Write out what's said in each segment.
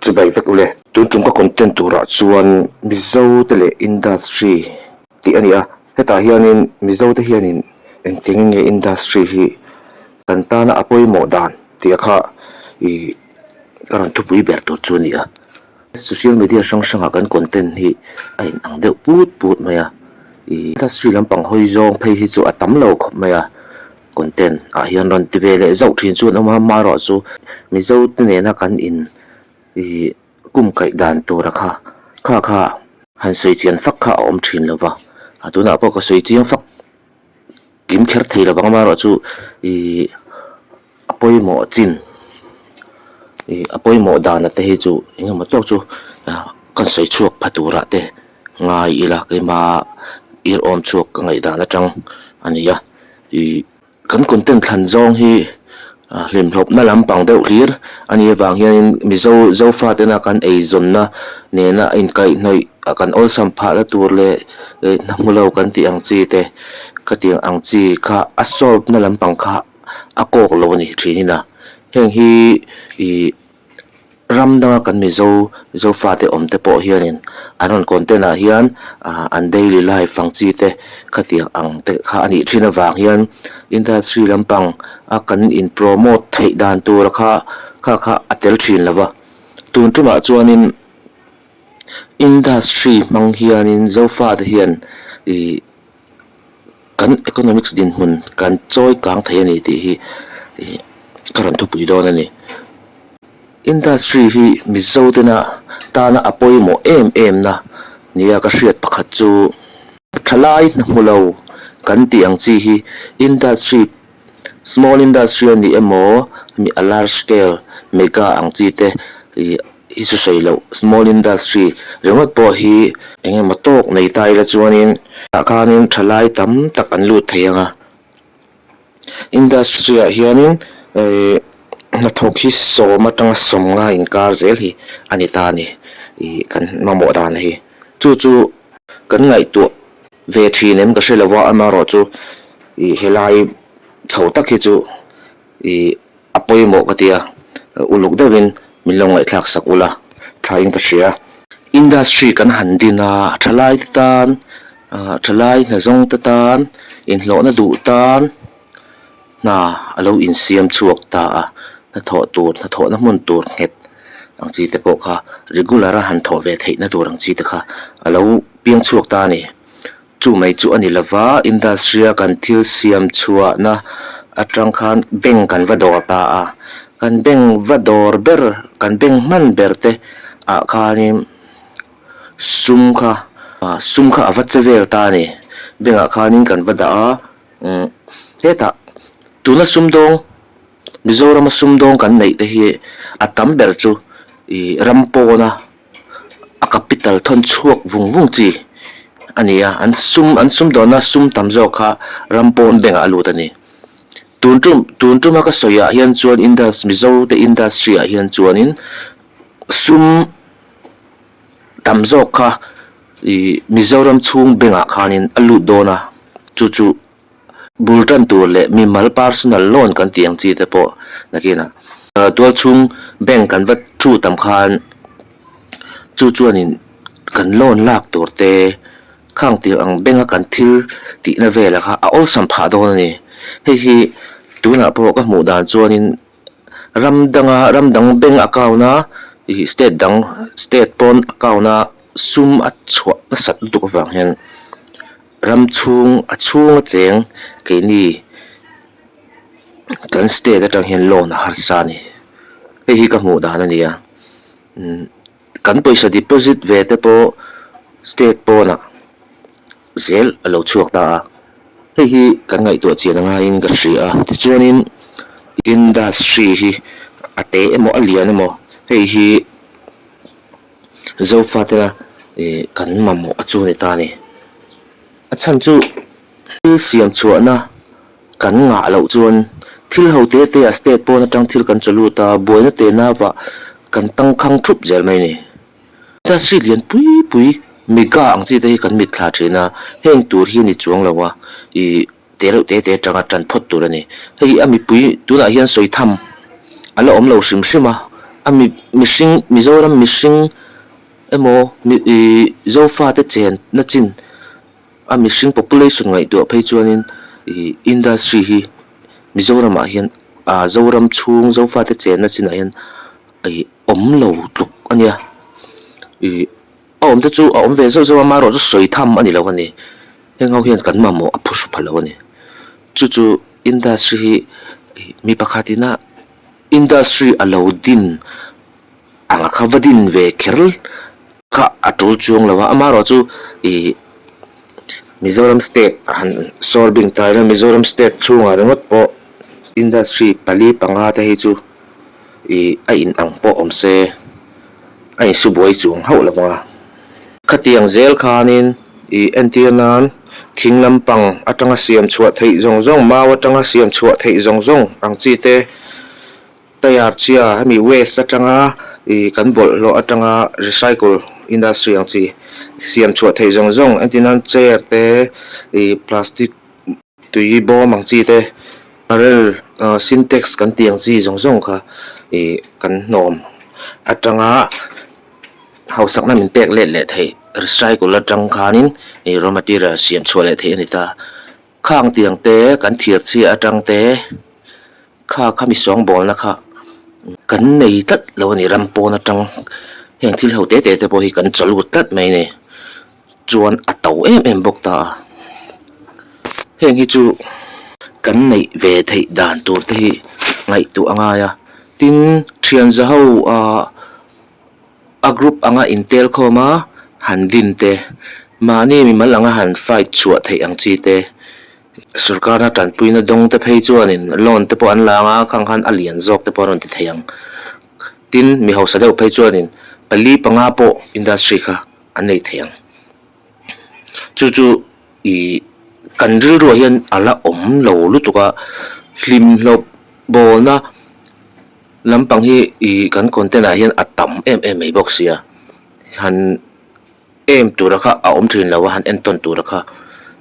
Chu bai vek ule. Tun chung ka content turah chuan Mizo te leh industry tih a ni a, hetah hianin Mizo te hianin engtiang in nge industry hi kan tana a pawimawh dan tih a kha ih ka rawn thupui ber tur chu a ni a. Social media hrang hrangah kan content hi a in ang deuh put put mai a, ih industry lampang hawi zawng phei hi chu a tam lo khawp mai a, content ah hian rawn ti ve leh zauh thin chu an awm a, maruah chu Mizo te nena kan in ih kum kaih dan tura kha kha kha han sawi chian fak kha a awm thin lova, a tunah pawh ka sawi chiang fak. Kim kher thei lo vang amaherawhchu chu ihh a pawimawh chin ihh a pawimawh dana te hi chu eng emaw tawk chu kan sawi chhuak pha tura te ngai ila keima irhawm chhuak ka ngaih dan atang a ni a ihh kan content thlan zawng hi-- Hlimhlawpna lam pang deuh hlir a nih avang hianin Mizo Zofa tena kan eizawnna nena inkaihnawih a kan awlsam phah na tur leh hnahmulo kan tih ang chi te khatiang ang chi kha a solve na lampang kha a kawk lo a ni thin in a, heng hi ih Ram danga kan Mizo Zofate awm te pawh hianin an rawn content-ah hian aah an daily life ang chi te khatiang ang te kha a nih thin avang hian industry lampang a kan in promote theih dan tura kha kha kha a tel thin lo va. Tun tumah chuanin industry hmang hianin Zofate hian ihh-- kan economics dinhmun kan chawi kang thei a ni tih hi ih ka rawn thupui dawn a ni industry hi mizo tena tana a pawimawh em em na nia ka hriat pakhat chu thalai hna hmu lo kan tih ang chi hi industry -- small industry a nih emaw mi a large scale mega ang chi te ih hi chu hreih loh small industry ringawt pawh hi eng emaw tawk nei ta ila chuanin tah khanin tha lai tam tak an lut thei ang a industry ah hianin ihh hnathawk hi sawm atanga sawm ngai inkar zel hi a ni ta a ni ih kan mamawh dan hi chu chu kan ngaihtuah Ve thin em ka hre lo va, amarawh chu i helai chho tak hi chu i a pawimawh ka tia uluk deuh in min lo ngaihthlak sak ula tha in ka hria. Industry kan han din a, thalai te tan, thalai hna zawng te tan inhlawhna duh tan, hna a lo insiam chhuak ta a, hnathawh tur, hnathawh na hmun tur nghet ang chi te pawh kha regular a han thawh ve theih na tur ang chi te kha a lo piang chhuak ta a ni. Chu mai chu a ni lova, industry a kan thil siam chhuah na atang khan bank kan va dawr ta a, kan bank va dawr ber, kan bank hman ber te ah khan in sum kha, sum kha a va che vel ta a ni, bank ah khan in kan va dah a, Umm hetah tuna sumdawng Mizorama sumdawng kan neih te hi a tam ber chu ih ram pawna a capital thawn chhuak vung vung chi a ni a, an sum an sum dawna sum tam zawk kha ram pawn bengah a lut a ni. Tun tum tun tuma ka sawiah hian chuan Indus Mizo te industry-ah hian chuanin sum-- tam zawk kha ih Mizoram chhung bengah khanin a lut dawn a, chu chu bul tan tur leh mimal personal loan kan tih ang chi te pawh nakin ah tual chhung bank kan va thu tam khan chu chuanin kan loan lak tur te kha ang tir ang, bank a kan thil tihna vel ah kha a awlsam phah dawn a ni. Hei hi tunah pawh ka hmuh dan chuanin. ram danga ram dang bank account a ih state dang state pawn account a sum a chhuah nasat lutuk avang hian ram chhung a chhunga cheng keini kan state atang hian loan a harsa a ni hei hi ka hmuh dan a ni a umm-- Kan pawisa deposit ve te pawh state pawnah zel a lo chhuak ta a, hei hi kan ngaihtuah chian a ngaiin ka hria a, tichuanin industry hi a te emaw a lian emaw hei hi Zofatena kan mamawh a chu a ni ta a ni. A chhan chu. Thil siam chhuahna kan ngah loh chuan thil ho te te a state pawn atang thil kan chaw lut a, buaina te na vah kan tangkhang thup zel mai ni. Chuan si lian pui pui miga ang chi te hi kan mit thla thin a, heng tur hi a ni chuang lo a, i te reuh te te atanga tan phawt tur a ni. Hei a mipui tunah hian sawi tham a la awm lo hrim hrim a, a mi mihring Mizoram mihring emaw mi i Zofa te chen na chin, A mihring population ngaihtuah phei chuanin ih industry hi Mizoramah hian ah Zoram chhung Zofate chenna chinah hian ih awm lo tluk a nia. Ih a awmte chu a awm ve zeuh zeuh a mah erawh chu sawi tham a ni lo a ni. Heng ho hian kan mamawh a phu hre pha lo a ni. Chu chu industry hi ih mi pakhat ina industry a lo din ang a kha va din ve kher. Kha a tul chuang lo a, a marawh chu ih Mizoram state a han sawl bing ta ila, Mizoram state chhungah ringawt pawh industry pali panga te hi chu ih a in ang pawh awm se a in su buai chuang hauh lo vang a. Khatiang zel khanin ih entir nan thing lampang atanga siam chhuah theih zawng zawng, mau atanga siam chhuah theih zawng zawng ang chi te Tyre chhia hemi waste atanga ih kan bawlh hlawh atanga recycle industry ang chi siam chhuah theih zawng zawng engtinan chair te ih plastic tui bawm ang chi te barrel ah sintex kan tih ang chi zawng zawng kha ih kan hnawm atanga hausakna min pek let leh theih recycle atang khanin ih raw material siam chhuah leh theih a ni ta. Khang tiang te kan thiar chhia atang te kha kha mi sawng bawlna kha kan nei tlat lo a ni ram pawn atang heng thil ho te te te pawh hi kan chawl vut tlat mai a ni chuan a to em em bawk ta heng hi chu kan neih ve theih dan tur te hi ngaihtuah a ngai a tin thianza ho ah A group anga in tel khawm a, han din te, mahni mi mal anga han fight chhuah theih ang chi te, sorkarna tanpuina dawng te phei chuanin loan te pawh an la ang a, khang khan a lian zawk te pawh a rawn ti thei ang. Tin, mi hausa deuh phei chuanin pali panga pawh industry kha an nei thei ang. chu chu ihh kan rilru ah hian a la awm lo lutuk a hlim hlawp bawlna lampang hi ihh kan content ah hian a tam em em mai bawk sia han aim tura kha a awm thin lo a han en tawn tura kha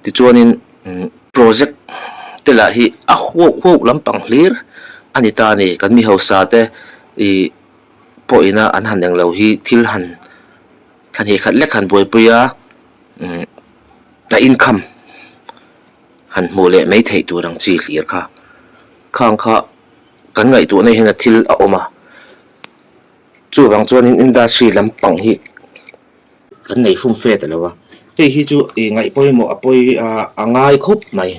tichuanin imm project te lah hi a huauh huauh lampang hlir a ni ta a ni kan mi hausa te ihh pawhin a an han eng lo hi thil han-- Thahnih khat lek han buaipui a, a income han hmuh leh mai theih tur ang chi hlir kha. Khang kha kan ngaihtuahna ah hian a thil a awm a, chuvang chuanin industry lampang hi kan nei fun fet a lo a. Hei hi chu i ngaih pawimawh a pawi a a ngai khawp mai.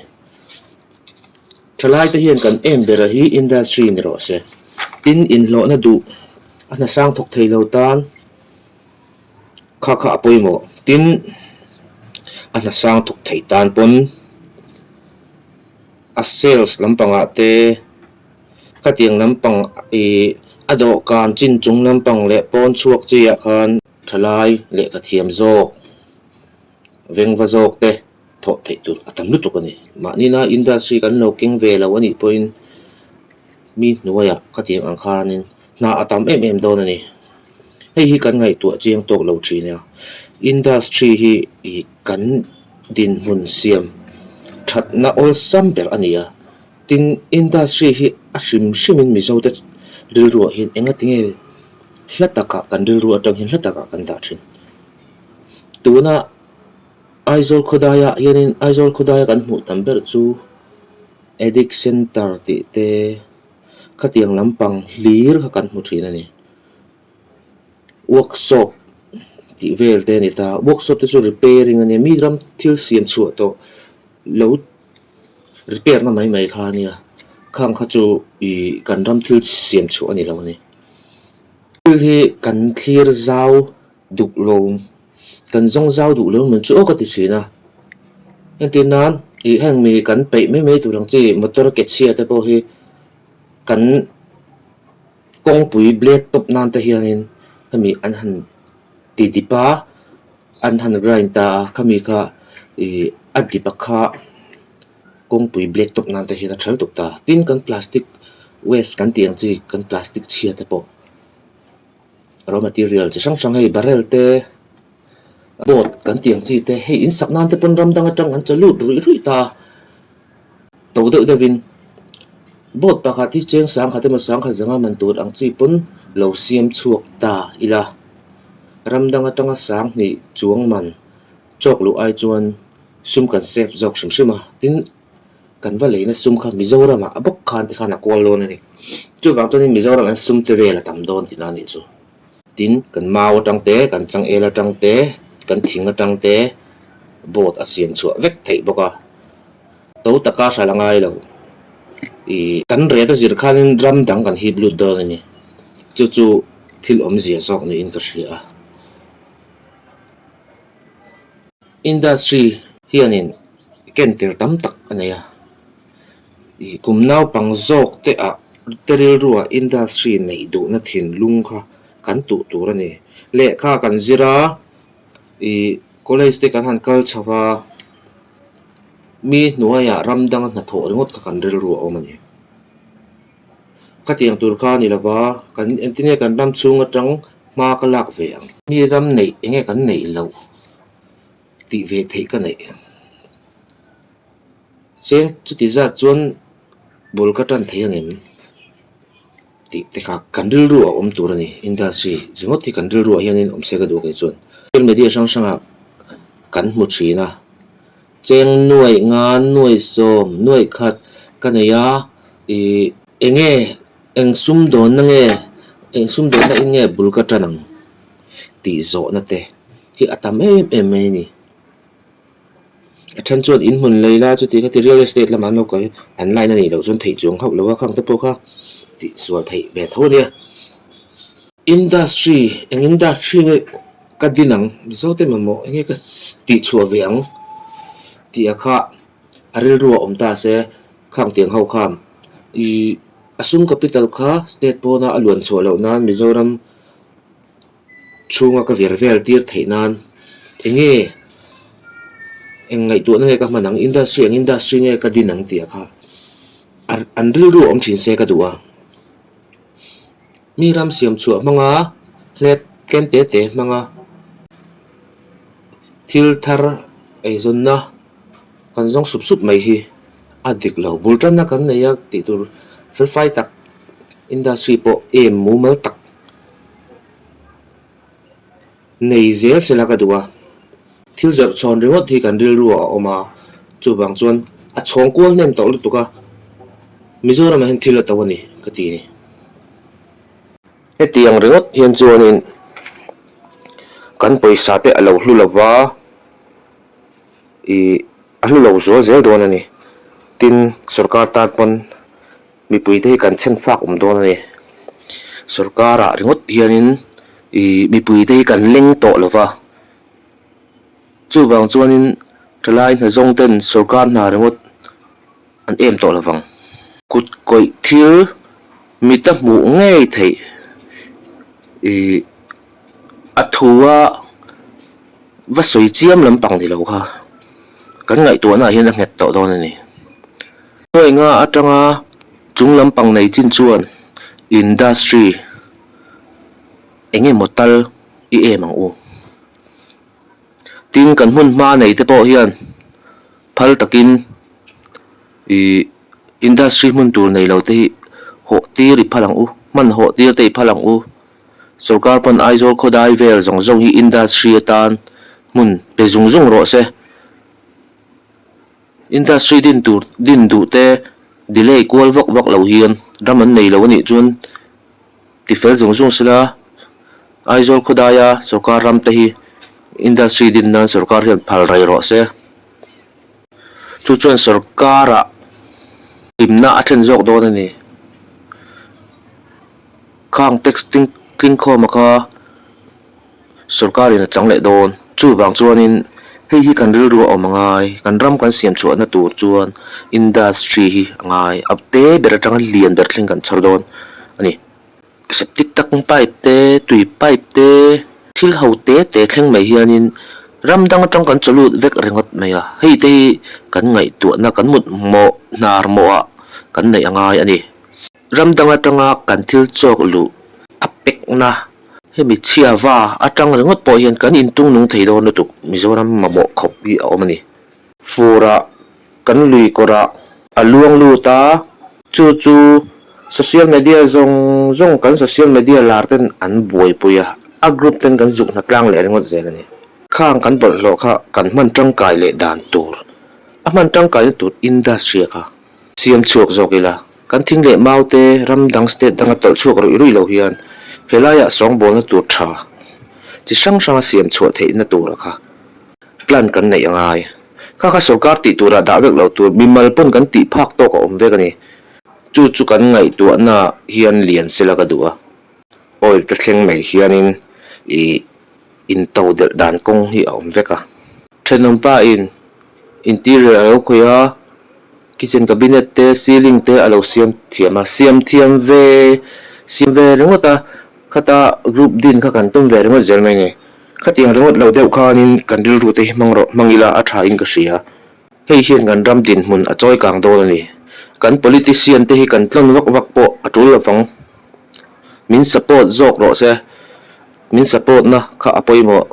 Thalai te hian kan aim ber a hi industry ni rawh se, tin inhlawhna duh a hna sang thawk thei lo tan, Kha kha a pawimawh tin a hna sang thawk thei tan pawn a sales lampangah te khatiang lampang ih a dawhkan chinchung lampang leh pawnchhuak chiah khan thalai leh khathiam zawk. vengva zawk te thawh theih tur a tam lutuk a ni. Mahnina industry kan lo keng ve lo a nih pawhin mi hnuaiah khatiang ang khanin hna a tam em em dawn a ni. Hei hi kan ngaihtuah chiang tawk lo thin nia, industry hi ih kan dinhmun siam thatna awlsam ber a ni a, tin industry hi a hrim hrimin Mizote rilruahin engatinge hla takah kan rilru atangin hla takah kan dah thin. Tuna Aizawl khawdaia hianin Aizawl khawdaia kan hmuh tam ber chu Addict Centre tih te khatiang lampang hlir kha kan hmu thin a ni. Workshop tih vel te a ni ta, workshop te chu repairing a nia, mi ram thil siam chhuah tawh lo repair na mai mai kha a nia, khang kha chu ihh kan ram thil siam chhuah a ni lo a ni. Thil hi kan thlir zau. duh lawm kan zawng zau duh lawm ang chu ka ti thin a heng tin nan ih heng mi kan peih mai mai tur ang chi motor ke chhia te pawh hi kan kawngpui black top nan te hian in hemi an han ti dip a an han grind ta a khami kha ih a dip a kha kawngpui black top nan te hian a ṭhal dup ta tin kan plastic waste kan tih ang chi kan plastic chhia te pawh. raw material chi hrang hrang hei barrel te boat kan tih ang chi te hei in sak nan te pawn ram dang atang an chaw lut ruih ruih ta to deuh deuh in boat pakhat hi cheng sangkhat emaw sangkhat zanga man tur ang chi pawn lo siam chhuak ta ila ram dang atanga sang hnih chuang man chawk luh ai chuan sum kan save zawk hrim hrim a tin-- kan va leina sum kha Mizoram ah a bawk khan te khan a kual dawn a ni. Chuvang chuan in Mizoram ah hian sum che vel a tam dawn tih na nih chu. Tin, kan mau atang te, kan changel atang te, kan thing atang te boat a siam chhuah vek theih bawk a. To taka hral a ngai lo. I kan ret a zir khan in ram dang kan hip lut dawn a ni. Chu chu thil awmzia zawk niin ka hria a. Industry hianin kentir tam tak a nei a, ih kum naupang zawk te ah te rilru ah industry nei duhna thinlung kha kan tuh tur a ni. Lehkha kan zir a, ih college te kan han kal chho va, mi hnuai ah ram dang a hnathawh ringawt kha kan rilru a awm a ni. Khatiang tur kha a ni lo va, kan entinge kan ram chhung atang hma ka lak ve ang. Mi ram neih enge kan neih loh. tih ve theih ka neih. Chian chuti zat chuan bul ka tan thei angem tih te kha kan rilru ah awm tur a ni, industry ringawt hi kan rilru ah hianin awmse ka duh a kei chuan. Social media hrang hrangah kan hmu thin a, cheng nuaih, ngan nuaih, sawm nuaih khat ka nei a, ih enge Eng sum dawnna nge, eng sum dawnna in nge bul ka tan ang? tih zawhna te hi a tam em em mai a ni. A then chuan in hmun lei la chuti kha ti real estate lamah an lo kai an line a nih loh chuan theih chuang hauh lo a khang te pawh kha tihsual theih ve tho a nia. Industry, eng industry nge ka din ang? Mizote mamawh enge ka tihchhuah ve ang? tih a kha. A rilru a awm ta se, khang tiang ho kham. Ii, A sum capital kha state pawna a luan chhuah loh nan Mizoram chhunga ka vir vel tir theih nan enge eng ngaihtuahna nge ka hman ang, industry eng industry nge ka din ang tih a kha an rilru a awm thin se ka duh a. mi ram siam chhuah hmanga hlep tlem te te hmanga thil thar eizawnna kan zawng sup sup mai hi a dik lo bul tanna kan nei a tih tur felfai tak industry pawh em mumal tak. Nei zel sela ka duh a, thil zawrh chhawn ringawt hi kan rilru ah a awm a, chuvang chuan a chhawng kual hnem tawh lutuk a, Mizoram ah hian thil a to a ni ka ti ni. Hetiang ringawt hian chuanin kan pawisa te a lo hlu lo va, ih a hlu lo zual zel dawn a ni, tin sorkar tan pawn, Mipui te hi kan chhen fak awm dawn a ni. Sorkara ringawt hianin ih mipui te hi kan leng tawh lo va. Chuvang chuanin hrilai hna zawng ten sorkar hna ringawt an em tawh lovang. Kut kawih thil mit a hmuh ngei theih ih a thu a va sawi chiam lampang ni lo kha kan ngaihtuahnaah hian a nghet tawh dawn a ni. Hnuainga atanga chung lampang nei chin chuan industry eng emaw tal i em ang u. Tin, kan hmun hma nei te pawh hian phal takin ih industry hmun tur nei lo te hi hawh tir i phal ang u, hman hawh tir te i phal ang u. Sorkar pawn Aizawl khawdai vel zawng zawng hi industry atan hmun pe zung zung rawh se. Industry din tur din duh te delay kual vak vak lo hian ram an nei lo a nih chuan ti fel zung zung sela Aizawl khawdaia sorkar ram te hi industry din nan sorkar hian phal rai rawh se chu chuan sorkara hlimna a then zawk dawn a ni. Khang tax tling khawm a kha. sorkar in a chang leh dawn. Chuvang chuanin hei hi kan rilru a awm a ngai, kan ram kan siam chhuahna tur chuan industry hi a ngai a te ber atanga lian ber thleng kan chhar dawn a ni. Septic tank pipe te, tui pipe te, thil ho te te thleng mai hianin ram dang atang kan chaw lut vek ringawt mai a, hei te hi kan ngaihtuahna, kan mutmawh, hnarmawha kan neih a ngai a ni. Ram dang atanga kan thil chawk luh a pekna hemi chhiava atang ringawt pawh hian kan intung nung thei dawn lutuk Mizoram mamawh khawp hi a awm a ni. Fura kan lui kawrah a luang lut a, chu chu social media zawng zawng kan social media lar ten an buaipui a, a group ten kan zuk hna tlang leh ringawt zel a ni. Khang kan bawlhhlawh kha kan hman tangkai leh dan tur a hman tangkaina tur industry a kha Siam chhuak zawk ila, kan thing leh mau te ram dang state danga tawlh chhuak ruih ruih lo hian helaiah sawngbawlna tur tha chi hrang hranga siam chhuah theihna tura kha plan kan neih a ngai. Kha kha sorkar tih turah dah vek lo tur mimal pawn kan tih phak tawk a awm vek a ni. Chu chu kan ngaihtuahna hian lian sela ka duh a, oil te thleng mai hianin ih. into delh dan kawng hi a awm vek a. Thenawm pain interior a lo khawih a, kitchen cabinet te, ceiling te a lo siam thiam a. Siam thiam ve, siam ve ringawt a, khata group din kha kan tum ve ringawt zel mai ni. Khatiang ringawt lo deuh khanin kan rilru te hi hmang rawh hmang ila a thain ka hria. Hei hian kan ram dinhmun a chawi kang dawn a ni. Kan politician te hi kan tlawn vak vak pawh a tul lovang. Min support zawk rawh se, min support na kha a pawimawh.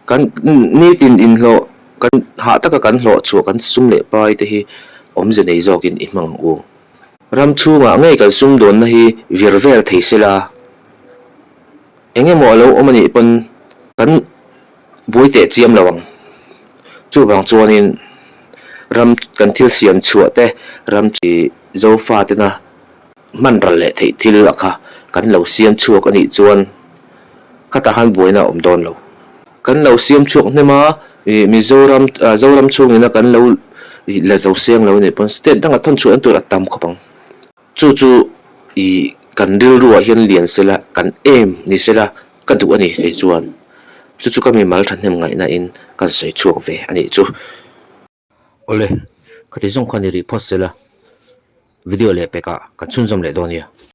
Kan nitin inhlawh, kan hah taka kan hlawh chhuah kan sum leh pai te hi awmze nei zawkin i hmang ang u. Ram chhungah ngei kan sumdawnna hi vir vel thei sela, engemaw a lo awm a nih pawn kan. Buai teh chiam lo ang. Chuvang chuanin ram kan thil siam chhuah te, ram chi Zofa tena hmanral leh theih thil a kha kan lo siam chhuak a nih chuan khatah khan buaina a awm dawn lo. Kan lo siam chhuak hnem a, Mizoram Zoram chhungin a kan lo la zo seng lo nih pawn state danga thawn chhuah na tur a tam khawp ang. Chu chu i kan rilru ah hian lian sela kan aim ni sela ka duh a ni thei chuan chu chu ka mimal thahnem ngaih na in kan sawi chhuak ve a nih chu. Awle ka ti zawng kha ni rih phawt sela video leh pek ah kan chhunzawm leh dawn nia.